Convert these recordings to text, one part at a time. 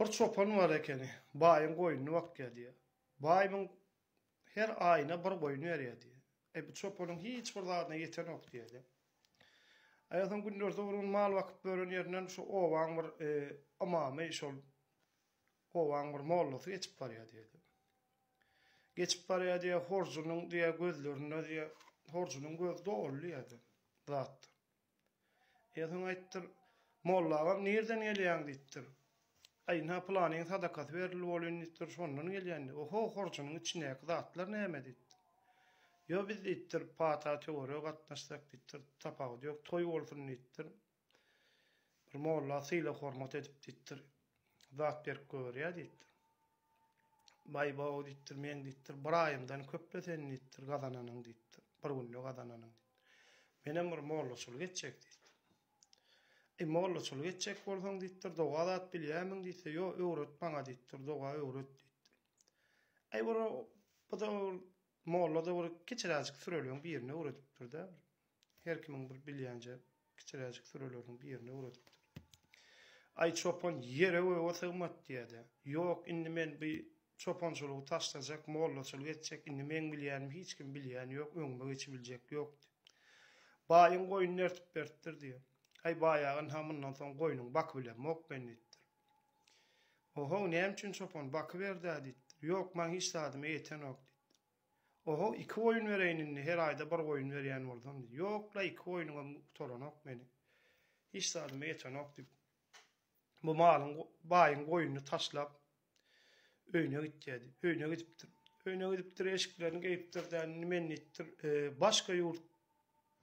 Bir çopan bar ekeni. Baýyň goýnuny bakýar diýýär. Baý muň her aýyna bir goýun berýär diýýär. Eý, bu çopanyň hiç bir zadyna ýetenok diýýär-de. Aýasam günlersi urgun mal bakyp ýören ýerinden şu obaň bir ymamy, şol obaň bir mollasy geçip barýar diýýär-de. Geçip barýar diýýär, horjunyň diýýär gözlerinde diýýär, horjunyň gözi doly diýýär-de zatdan. Ersiň aýtdyr, Molla agam nirden gelýäň? diýipdir. Aý, ynha, pylanyň sadakasy berildi welin, diýipdir, şondan gelýän diýdi. Oho, horjunyň içindäki zatlar näme? diýipdir. Ýo, biz, diýipdir, pata töwerege gatnaşsak, diýipdir, tapawudy ýok, toý bolsun, diýipdir. Bir molla sylag-hormat edip, diýipdir, zat berip goýberýär, diýipdir. Baý-baw diýipdir, meň diýipdir, bir aýymdan köp-le seniň diýipdir, gazananyň diýipdir, bir günde gazananyň diýipdir. Menem bir mollaçylyk etjek diýipdir. Eý, mollaçylyk etjek bolsaň diýipdir, doga zat bilýärmiň diýse, ýo, öwret maňa diýipdir, doga öwret diýipdir. Eý, bir, bu-da bir molla-da bir kiçiräjik süreliň birini öwredipdir-de. Her kimiň bir bilýänje kiçiräjik süreleriň birini öwredipdir. Aý çopan ýere göge sygmat diýädä. Ýok, indi men bu çopançylygy taşlajak, mollaçylyk etjek, indi meň bilýänimi hiç kim bilýän ýok, öňüme geçibiljek ýok diýip. Baýyň goýnuny ertip beripdir diýýär. Aý baýa ynha mundan soň goýnuňy bakybilemok men diýipdir. Ohow näme üçin çopan, bakyberdä diýipdir. Ýok, maň hiç zadyma ýetenok diýipdir. Ohow iki goýun bereýin indi her aýda bir goýun berýän bolsaň diýdi. Ýok-la iki goýunymam gutaranok meniň. Hiç zadyma ýetenok diýip bu malyň baýyň goýunyny taşlap öýüne gitýärdi. Öýüne gidipdir. Öýüne gidipdir eşiklerini geýipdir däni indi men diýipdir başga ýurt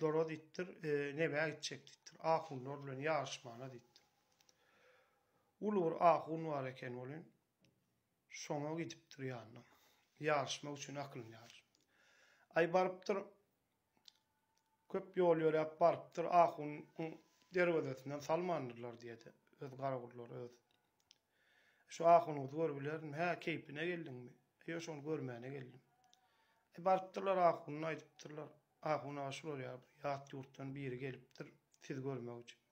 lara diýipdir nebä gitjek diýipdir ahunlar bilen ýaryşmana diýipdir. Uly bir ahun bar eken welin Şoňa gidipdir ýanyna. Ýaryşmak üçin aklynýar. Aý barypdyr. Köp ýol ýöräp barypdyr. Ahunyň derwezesinden salmandyrlar diýedi. Öz garagullar öz. Şu ahunyňyzy görübilermi? Hä, keýpine geldiňmi? Ýok, şony görmäne geldim. Aý barypdyrlar ahunyna aýdypdyrlar. Ahun aga şular ýaly bir ýat ýurtdan biri gelipdir sizi görmek üçin.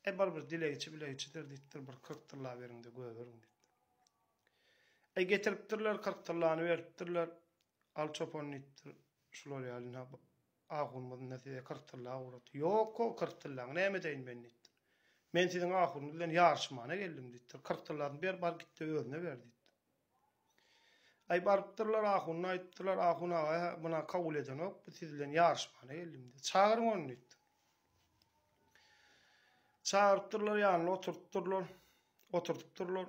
Äý, barybir dilegiçi bilegiçidir diýipdir, bir kyrk tylla beriň-de gögeriň diýipdir. Äý, getiripdirler, kyrk tyllany beripdirler. Al, çopan diýipdir, şular ýaly ine, ahunymyz-da size kyrk tylla ugrady. Ýok-ow, kyrk tyllaňy näme edeýin men diýipdir. Men siziň ahunyňyz bilen ýaryşmana geldim diýipdir. Kyrk tyllasyny ber, bar git-de özüne ber diýipdir. Aý barypdyrlar ahuna aýdypdyrlar, ahun aga muna kabul edenok, biz siz bilen ýaryşmana geldim diýip. Çagyryň ony diýipdir. Çagyrypdyrlar ýanyna oturtdyrlar, oturtypdyrlar.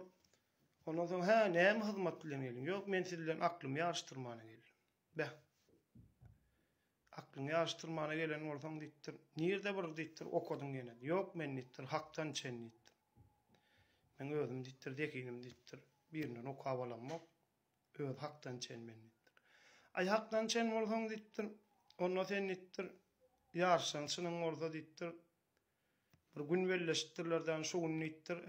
Ondan soň hä näme hyzmat bilen geldiň? Ýok men siz bilen aklymy ýaryşdyrmana geldim. Beh. Aklyňy ýaryşdyrmana gelen bolsaň, diýipdir. Nirde bir, diýipdir, okadyň ýene? Ýok, men, diýipdir, hakdan içen, diýipdir. Men özüm, diýipdir, zehinim, diýipdir, birinden okap alamok. Özi hakdan içen men, diýipdir. Aý, hakdan içen bolsaň, diýipdir, onda sen, diýipdir, ýaryşan çynyň bolsa, diýipdir, Bir gün belleşipdirler dämi, şo gün diýipdir,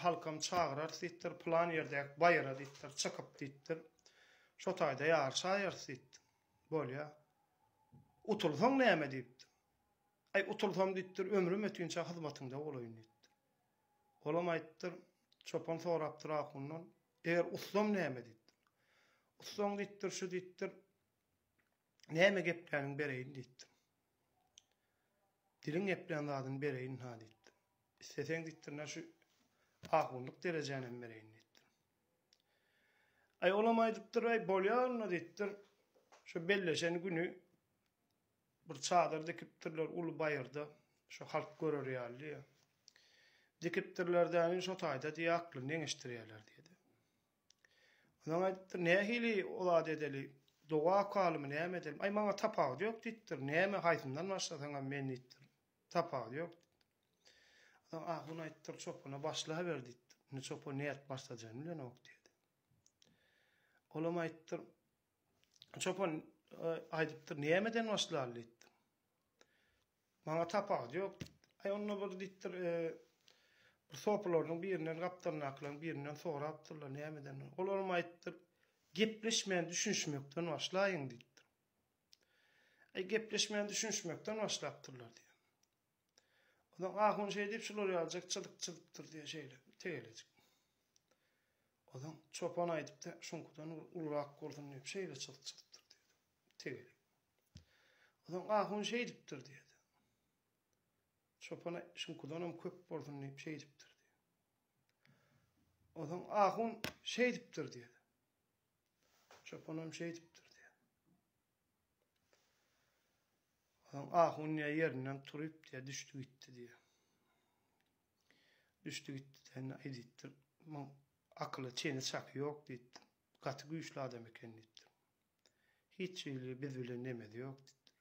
halkam çagyrarys diýipdir, pylan ýerdäki baýra diýipdir, çykyp diýipdir, şo taýda ýaryşaýarys diýipdir. Bolýa. Utulsaň näme diýipdir. Aý, utulsam diýipdir, ömrüm ötinçä hyzmatyňda bolaýyn diýipdir. Olam aýdypdyr, çopan sorapdyr ahundan, Eger utsam näme diýipdir. Utsaň diýipdir, şu diýipdir, Näme gepläniň bereýin diýipdim. Diliň geplän zadyny bereýin-ha diýipdim. Isleseň diýipdir ine şu ahunlyk derejänem bereýin diýipdim. Aý olam aýdypdyr, aý bolýar onda diýipdir. Şu belleşen güni bir çadyr dikipdirler uly baýyrda, şu halk görer ýaly. Dikipdirler-dä, şo taýda diýýär aklyny deňeşdirýärler diýdi. Onam aýdypdyr, Nähili o zady edeli? Doga okalymy, näme edeli? Aý, maňa tapawudy ýok diýipdir. Näme, haýsyndan başlasaňam men diýipdir. Tapawudy ýok diýipdir. Onam ahun aýdypdyr, Çopana başlaber diýipdir. Indi çopan nädip başlajany bilenok diýdi. Olam aýdypdyr, Çopan aýdypdyr, Nämeden başlaly diýipdir. Maňa tapawudy ýok diýipdir. Aý onda bir diýipdir, bir sopylarynyň birinden gapdalyndakylaryň birinden sorapdyrlar nämeden. Olaram aýdypdyr, Gepleşmän düşünişmekden başlaýyň diýipdir. Aý gepleşmän düşünişmekden başlapdyrlar diýýär. Onsoň ahun şeý diýip şular ýalyjak çyzyk çyzypdyr diýýär şeýle tegelejik. Onsoň çopan aýdypdyr, şuňkudan bir ulurak bolsun diýip şeýle çyzyk çyzypdyr diýipdir. Tegelek. Onsoň ahun şeýdipdir diýdi. Çopana şuňkudanam köp bolsun diýip şeýdipdir diýdi. Onsoň ahun şeýdipdir diýdi. Çopanam şeýdipdir diýdi. Onsoň ahun diýe ýerinden turup diýe düşdi gitdi diýdi. Düşdi gitdi sen aýdypdyr. Muň akyly çeni çaky ýok diýipdir. Gaty güýçli adam eken diýipdir. Hiç hili biz bilen nemesi ýok diýipdir.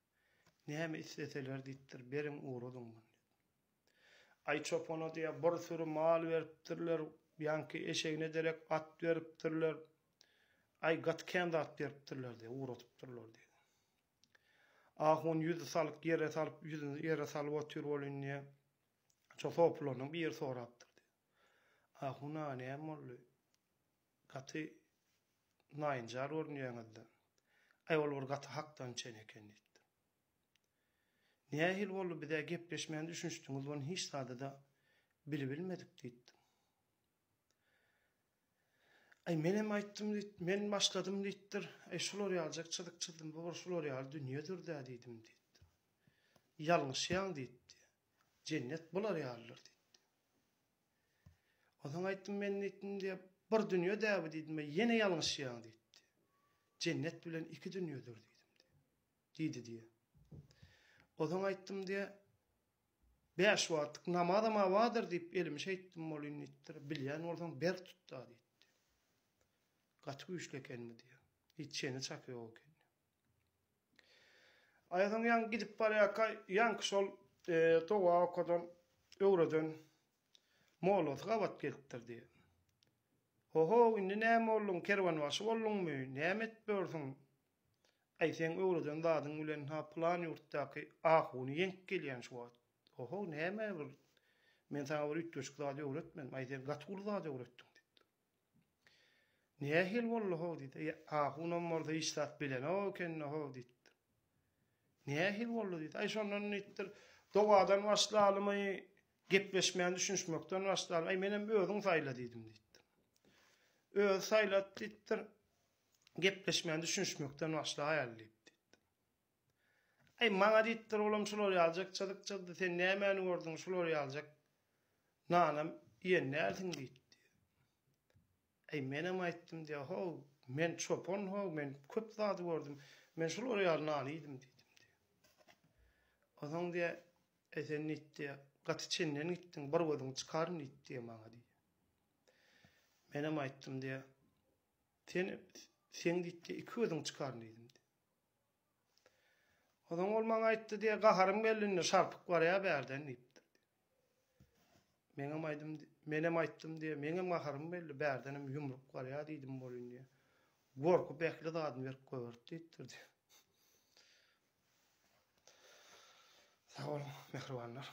Näme isleseler diýipdir, beriň ugradyn muny diýip. Aý çopana diýýär, bir süri mal beripdirler, ýaňky eşegine derek at beripdirler. Aý gaty kän zat beripdirler diýýär, ugradypdyrlar diýýär. Ahun ýüzi salyk ýere salyp, ýüzüni ýere salyp otyr welin diýýär, şo sopylardan biri sorapdyr diýýär. Ahun aga näme boldy? Gaty naýynjar görünýäňiz-de. Aý, ol bir gaty hakdan çen eken diýipdim. Nähili boldy, biz-ä gepleşmän düşünişdigiňiz bolan hiç zady-da bilibilmedik diýipdim. Aý, menem aýtdym diýip, men başladym diýipdir. Aý, şular ýalyjak çyzyk çyzdym, bu bir şular ýaly dünýedir-dä diýdim diýipdim. Ýalňyşýaň diýipdi. Jennet bular ýalydyr diýipdi. Onsoň aýtdym, Men diýdim, bir dünýe dä bu diýdim, ýene ýalňyşýaň diýipdi. Jennet bilen iki dünýedir diýdim. Diýdi diýýär. Onsoň aýtdym diýýär, Bäş wagtlyk namazam awadyr diýip elimi şeýtdim bolýyn diýipdir. Bilýän bolsaň berk tutda diýipdi. Gaty güýçli eken bu diýýär. Hiç çeni çaky ýok eken. Aýasyň ýaňky gidip barýarka ýaňky şol doga okadan, öwreden mollasy gabat gelipdir diýýär. Ho-how, indi näme bolduň, kerwenbaşy bolduňmy, näme edip ýörsüň? Aý, seň öwreden zadyň bilen-ha pylan ýurtdaky ahuny ýeňip gelýän şu wagt. Ho-how, näme bir, men saňa bir üýtgeşik zat öwretmedim, aý, sen gaty uly zat öwretdiň, diýipdir. Nähili boldy-how? diýdi. Ýa, ahunam bolsa hiç zat bilenok ekeni-how? diýipdir. Nähili boldy? diýdi. Aý, şondan diýipdir, dogadan başlalymy, gepleşmän düşünişmekden başlalymy, aý, menem özüň saýla diýdim diýipdir. Özi saýlady diýipdir, gepleşmän düşünişmekden başlaýaly diýipdir. Aý, maňa diýipdir, olam şular ýaly jykja-dykjady, sen nämäni gördüň, şular ýalyjak nanam iýen dälsiň diýipdi. Aý, menem aýtdym diýýär, How, men çopan, how, men köp zady gördüm, men şular ýaly nany iýdim diýdim diýýär. Onsoň diýýär, Aý, sen diýip diýýär, gaty çenden gitdiň, bir gözüňi çykaryn diýip diýýär maňa diýýär. Menem aýtdym diýýär, Sen, seň diýip diýýär, iki gözüňi çykaryn diýdim diýýär. Onsoň ol maňa aýtdy diýýär, Gaharym geldi indi, şarpyk barýar bärden diýipdir. Meňem aýdym, menem aýtdym diýýär, meňem gaharym geldi, bärdenem ýumruk barýar diýdim bolýyn diýýär. Gorkup ähli zadyny berip goýberdi diýipdir diýýär. Sag boluň, mähribanlar.